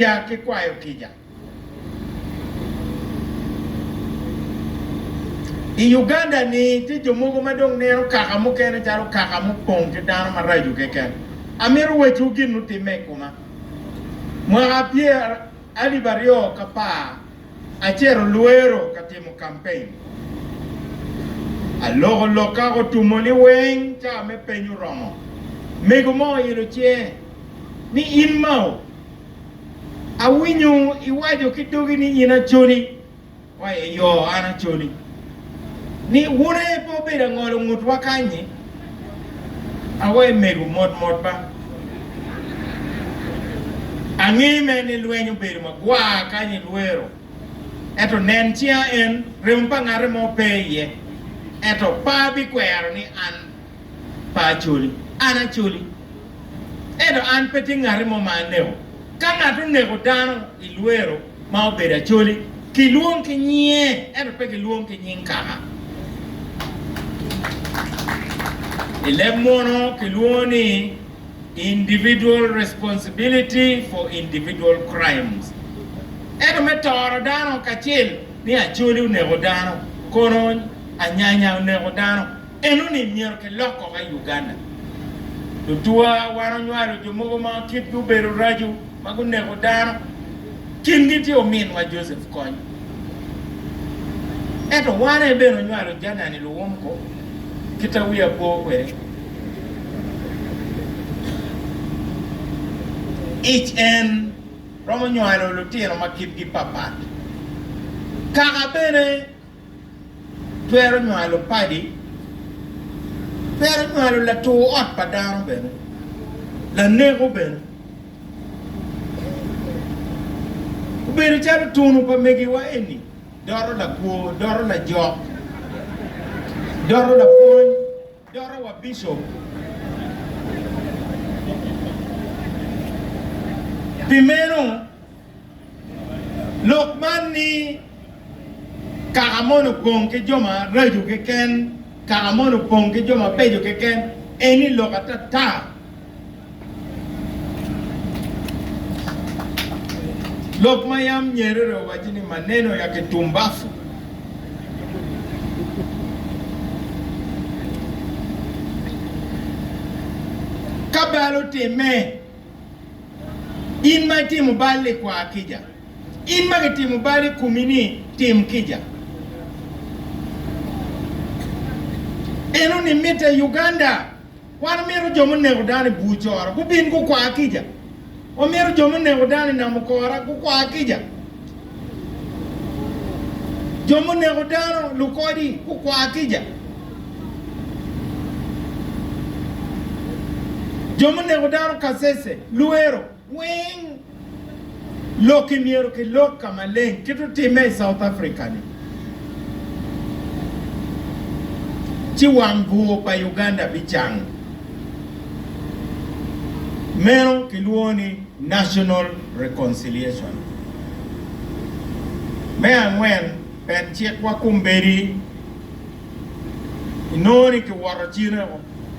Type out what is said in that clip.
Kica ki kwayo kica. I Uganda-ni, tye jo mogo ma dong neno kaka mukene calo kaka mupong ki dano maraco keken. Amito wecciwu gin mutimme i koma. Mwaka pyer alip aryo k'apar, acito Luero ka timo kampein. Aloko lokka otumo ni weng ca me peny oromo. Mego mo oilo cinge ni, In mao? Awinyo iwaco ki dogi ni in aconi, wa i yo, an aconi. Ni wun aye pe obedo angolo ngutwa kany-nyi? Awa i mego mot mot ba. Ange me ni lweny obedo magwar kany i lwero, ento nen cinga en, remo pa ngate mo pe iye, ento par bikwero ni an. pa Acholi. An Acholi, ento an pe tye ngati mo ma aneko. Ka ngat oneko dano i lwero ma obedo Acholi, kilwong ki nyinge, ento pe kilwong ki nying kaka. I leb muno kilwongo ni individual responsibility for individual crimes. Ento me toro dano kacel ni Acholi oneko dano, Konony, Anyanya oneko dano, Eno ni myero ki lok koko i Uganda. Tutwa wan onywalo jo mogo ma kitgi obedo raco ma guneko dano. Kingi tye ominwa Joseph Kony. Ento wan en bene onywalo Janani Luwumko kita wiya po kwede. Ic en romo nywalo lutino ma kitgi papat. Kaka bene. twero nywalo padi, twero nywalo latur ot pa dano bene, laneko bene. Obedo calo tunu pa megiwa eni, doto lakwo, doto lajok, doto lapwony, Doro wa Bishop pi meno lok man ni kaka moni opong ki jo ma raco keken, kaka moni opong ki jo mabeco keken eni lok ata ta. Lok ma yam nyerere owaco ni maneno ya ki tumbafu. Ka bal otimme, in ma itimo bal-li kwa kica. In ma kitimo bal i komi-ni, tim kica. Enoni mitte Uganda. Wan omito jo muneko dano i bur cora gubin gukwa kica. Omito jo muneko dano i nam okora gukwa kica. Jo muneko dano lukodi gukwa kica. Jo muneko dano kasese, lwero. Weng lok i myero ki lok ka maleng kit otime i South Africa ni ci wang bur pa Uganda bi cang. Meno ki lwongo ni National Reconciliation. Me angwen ben cik wa kombedi inongo ni ki woto cine o.